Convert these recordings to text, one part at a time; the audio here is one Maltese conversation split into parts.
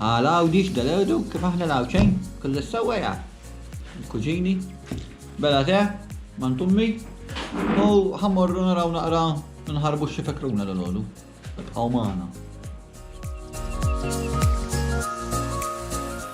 Għal Għawdix dal-erdu kif aħna l-Għawdxejn kull is-sewwa jaf. Il-kuġini, bela te, mant ummi, u ħa morru naraw naqra nħarbu xi fekruna dalgħodu. Ibqgħu magħna.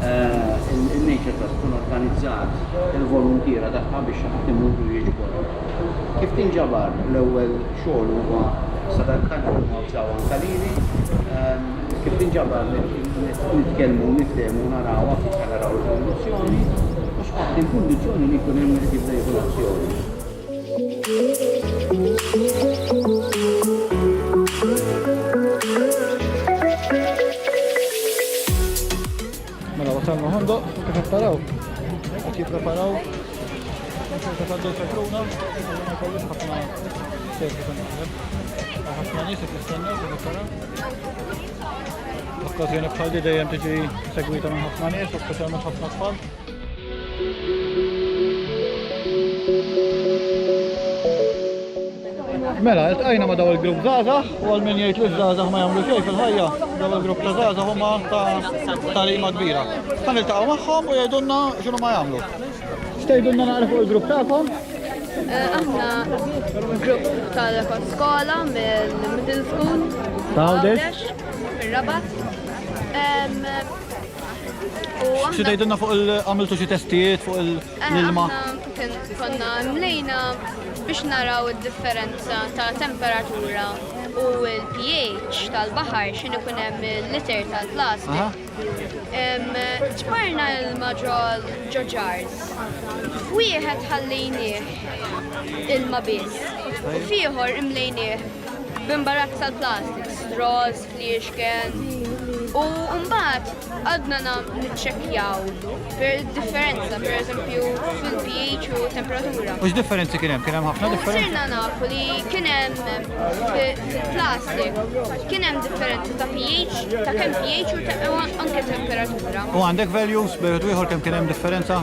In-nature trust tkun organizzat il-voluntiera tagħha biex xaħat imur u jiġbor. Kif tinġabar l-ewwel xogħol huwa sadarkant li huma wżgħu anke lili. Kif tinġabar nitkellmu niftehmu narawha kif ħa naraw l-evoluzzjoni u skont il-kundizzjoni li jkun hemm li tibda jieħu l-azzjoni. Mela wasalna ħandoq, kif qed taraw? Qed jippreparaw ċerta ta' dolce kruna, ma jkollux ħafna ċerta ta' naħdem. Ħafna nies qed jistennew kif qed taraw. L-okkażjoni bħal di dejjem tiġi segwita minn ħafna nies, u speċjalment ħafna tfal. Mela, il-tqajna ma daw il-grupp Zazah, u għal min jgħid li Zazah ma jagħmlu xejn fil-ħajja, daw il-grupp ta' Zazah huma ta' talima kbira. Ħan niltaqgħu magħhom u jgħidulna x'inhu ma jagħmlu. X'tgħidulna naqra fuq il-grupp tagħkom? Eh, aħna grupp tal-rekord skola mill-middle school. Ta' Għawdex. Rabat. Xi tgħidilna fuq il-għamiltu xi testijiet fuq il-ilma? Konna mlejna biex naraw id-differenza ta' temperatura u l-pH tal-baħar x'in ikun hemm l-liter tal-plastik. Ġbarna ilma ġol ġoġars. F'wieħed ħallejnieh ilma biss u fieħor imlejnieh b'imbarazz tal-plastik, straws, li jixken u mbagħad għadna niċċekkjaw per differenza per eżempju fil-pH u temperatura. U x'differenzi kien hemm? Kien hemm ħafna differenzi? Sirna nafu li kien hemm fil-plastik kien hemm differenzi ta' pH, ta' kemm pH u anke temperatura. U għandek values bejn ieħor kemm kien hemm differenza?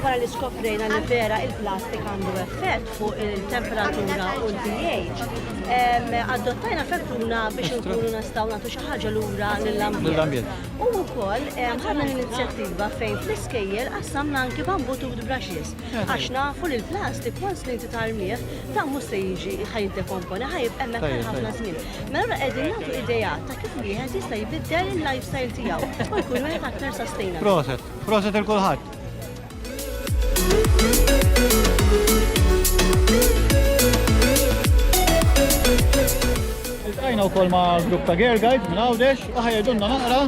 Wara li skoprejna li vera il-plastik għandu effett fuq il-temperatura u l-pH, adottajna fettuna biex nkunu nistgħu nagħtu xi ħaġa lura lill-ambjent. U wkoll ħadna l-inizjattiva fejn fl-iskejjel qassamna anki bambu tut brushes għax nafu li l-plastik once li inti tarmih ta' mhux se jiġi ħaj dekomponi ħaj hemmhekk għal ħafna żmien. Mela qegħdin nagħtu idea ta' kif wieħed jista' jbiddel il-lifestyle tiegħu u jkun wieħed aktar sustainable. Proset il kulħadd. Iltqajna wkoll ma' grupp ta' Gear Guides minn Għawdex u ħajedunna naqra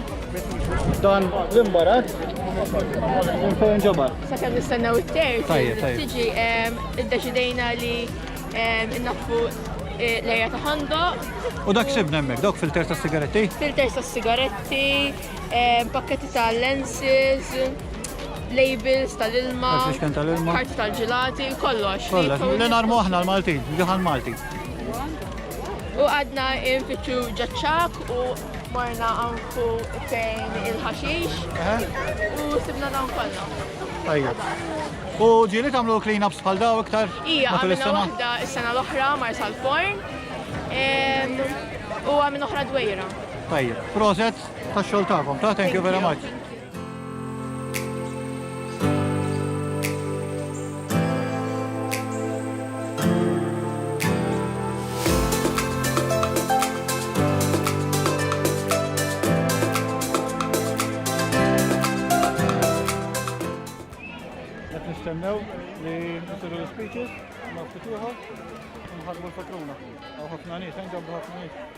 dan l-imbarat minn fejn ġabar. Sakemm nistennew it-terz. Tajjeb, tajjeb. Tiġi em, iddeċidejna li em, innaffu eh, l-area ta' ħandoq, U dak sibna hemmhekk, dawk filter ta' sigaretti. filters tas-sigaretti, Pakketti ta' lenses, labels tal-ilma, karti tal-ġilati, kollox. Kollox, li narmu aħna l-Maltin, ġuħan Malti. U għadna infittxu ġaċċak u marna għanku fejn il-ħaxix u sibna dawn kollha. Ajja. U ġili tamlu clean-ups bħal daw iktar? Ija, għamilna waħda s-sena l-oħra mar sal-forn u għamilna oħra dwejra. Tajjeb, proset ta' xogħol tagħkom, ta' thank you very much. Nistennew li nisiru l-speeches, ma' fituħa, nħadmu l-patruna. Għaw ħafna nies, għandu ħafna nies.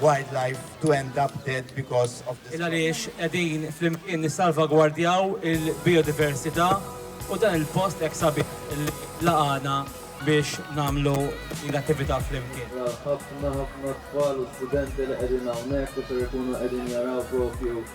wildlife to end up dead because of this. Għaliex qegħdin flimkien nissalvagwardjaw il-bijodiversità u dan il-post hekk sabiħ li laqagħna biex nagħmlu din l-attività flimkien. Ra ħafna ħafna tfal u studenti li qegħdin hawnhekk u ser ikunu qegħdin jaraw propju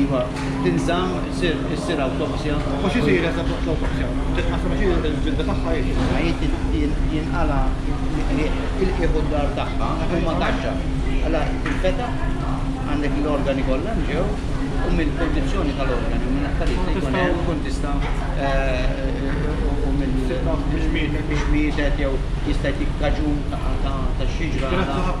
Iva, tinżamm, issir awtopsja. Ma x'isir eżatt waqt l-awtopsja? Titqassam għax hi l-ġilda tagħha hi kif inhi. Hi jinqala' l-qligħ, il-qiegħ u d-dahar tagħha huma taxxa. Allura tinfetaħ, għandek l-organi kollha nġew u mill-kundizzjoni tal-organi u minn affarijiet li jkun hemm tkun tista' u minn biex mietet jew jista' jtik kaġun ta' xi ġrada.